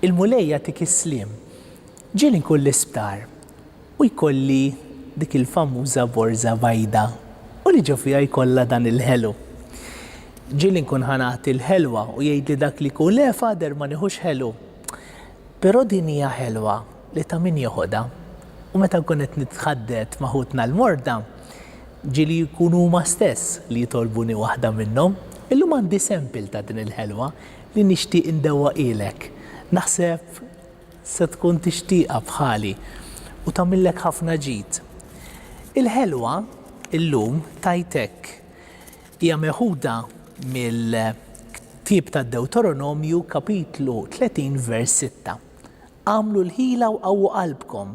Il-Mulej jagħtik is-sliem. Ġieli nkun l-isptar u jkolli dik il-famuża borża bajda u li ġo fiha jkollha dan il-ħelu. Ġieli nkun ħa nagħti l-ħelwa u jgħidli dak li jkun le Father ma nieħux ħelu. Però din hija ħelwa li ta' min joħodha. U meta nkun qed nitħaddet ma' ħutna l-morda, ġieli jkunu huma stess li jitolbuni waħda minnhom. Illum għandi sample ta' din il-ħelwa. li nixtieq indewwaqhielek, naħseb se tkun tixtieqha bħali u tagħmillek ħafna ġid. Il-ħelwa llum tgħid hekk, hija meħuda mill-ktieb tad-Dewtoronomju kapitlu 30 vers 6, Agħmlu l-ħila u qawwu qalbkom,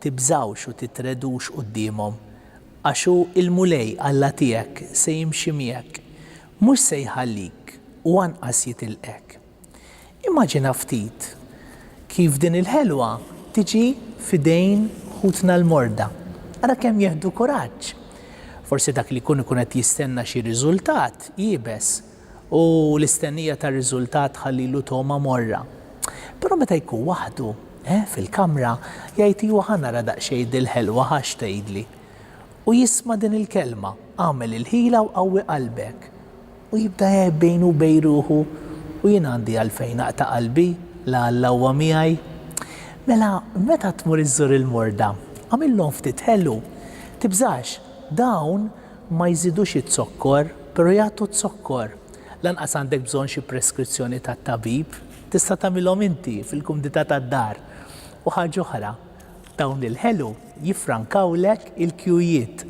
tibżgħux u titredux quddiemhom, għax hu l-Mulej Alla tiegħek se jimxi miegħek, Mhux se jħallik u anqas jitilqek. Immaġina ftit kif din il-ħelwa tiġi f'idejn ħutna l-morda. Ara kemm jieħdu kuraġġ! Forsi dak li jkun ikun qed jistenna xi riżultat iebes u l-istennija ta' riżultat tħallilu togħma morra. Però meta jkun waħdu, eh, fil-kamra, jgħid iwa ħa nara daqsxejn dil-ħelwa ħa x'tgħidli. u jisma' din il-kelma, Agħmel il-ħila u qawwi qalbek. U jibda jgħid bejnu u bejn ruħu, U jien għandi għalfejn naqta' qalbi, la Alla huwa miegħi? Mela, meta tmur iżżur il-morda, agħmilhom ftit ħelu. Tibżax, dawn ma jżidux iz-zokkor, però jagħtu z-zokkor. Lanqas għandek bżonn xi preskrizzjoni tat-tabib. Tista' tagħmilhom inti, fil-kumdità tad-dar. U ħaġa oħra, Dawn il-ħelu jiffrankawlek il-kjujiet,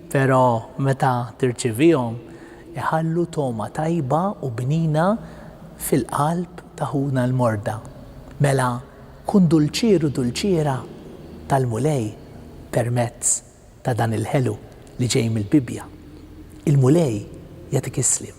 però meta tirċivihom iħallu togħma tajba u bnina fil-qalb ta' ħuna l-morda. Mela kun dulċieru dulċiera tal-Mulej permezz ta' dan il-ħelu li ġej mill-Bibbja. Il-Mulej jagħtik is-sliem.